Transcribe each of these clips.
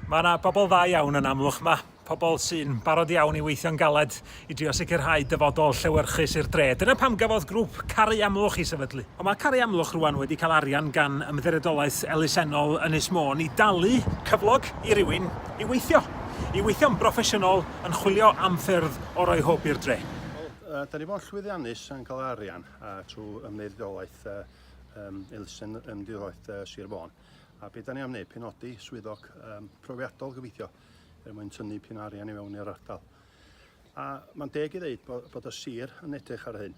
Mae yna bobl dda iawn yn Amlwch 'ma, pobl sy'n barod iawn i weithio'n galed i drio sicrhau dyfodol llewyrchus i'r dre. Dyna pam gafodd grŵp Caru Amlwch ei sefydlu. Ond mae Caru Amlwch rwan wedi cael arian gan Ymddiriedolaeth Elusennol Ynys Môn i dalu cyflog i rywun i weithio. I weithio'n broffesiynol yn chwilio am ffyrdd o roi hwb i'r dre. Wel, da ni fo'n llwyddiannus yn cael arian trwy Ymddiriedolaeth Elusen Ymddiriedolaeth Sir Fôn. A be da ni am wneud? Penodi swyddog um, profiadol gyfeithio er mwyn tynnu pyn arian i fewn i'r ardal. A mae'n deg i ddeud bod, bod y sir yn edrych ar hyn.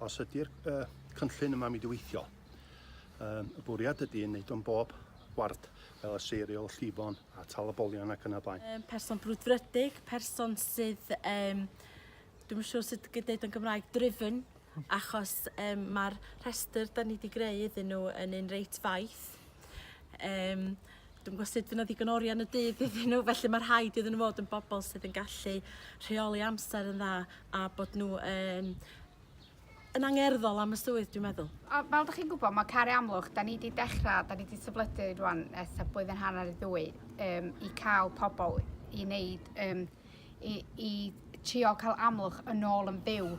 Os ydy'r uh, cynllun yma mi diweithio, um, y bwriad ydy yn wneud o'n bob ward fel y seiriol, llifon a tal y bolion ac yna blaen. Um, person brwdfrydig, person sydd um, Dwi'm yn siŵr sut gei deud o'n Gymraeg, driven, achos um, mae'r rhestr da ni wedi greu iddyn nhw yn un reit faith. Um, Dwi'n gwybod sut fyna ddigon oriau yn y dydd iddyn nhw, felly mae rhaid iddyn nhw fod yn bobl sydd yn gallu rheoli amser yn dda a bod nhw yn, yn angerddol am y swydd, dwi'n meddwl. A fel da chi'n gwybod, mae Cari Amlwch, da ni wedi dechrau, da ni wedi sefledu rwan ers blwyddyn hanner i ddwy um, i cael pobl i wneud um, i, i trio cael amlwch yn ôl yn byw.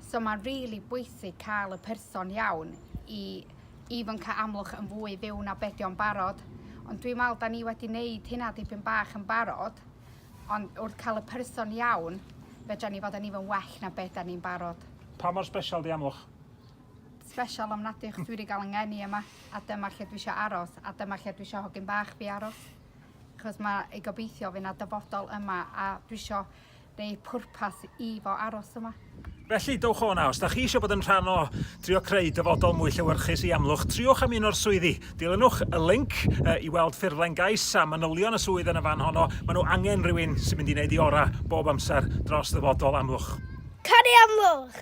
So mae'n rili really bwysig cael y person iawn i even cael amlwch yn fwy fyw na bedio'n barod. Ond dwi'n meddwl da ni wedi wneud hynna dipyn bach yn barod, ond wrth cael y person iawn, fedra ni fod yn even well na beth da ni'n barod. Pa mor special di amlwch? Special am nad ych dwi wedi cael yng ngeni yma, a dyma lle dwi eisiau aros, a dyma lle dwi eisiau hogyn bach fi aros. achos mae ei gobeithio fe na dyfodol yma a dwi isio neu pwrpas i fo aros yma. Felly, dowch o na, os da chi eisiau bod yn rhan o drio creu dyfodol mwy llewyrchus i Amlwch, triwch am un o'r swyddi. Dilynwch y link uh, i weld ffurflen gais a manylion y swydd yn y fan honno. Mae nhw angen rhywun sy'n mynd i wneud i ora bob amser dros ddyfodol Amlwch. Canu Amlwch!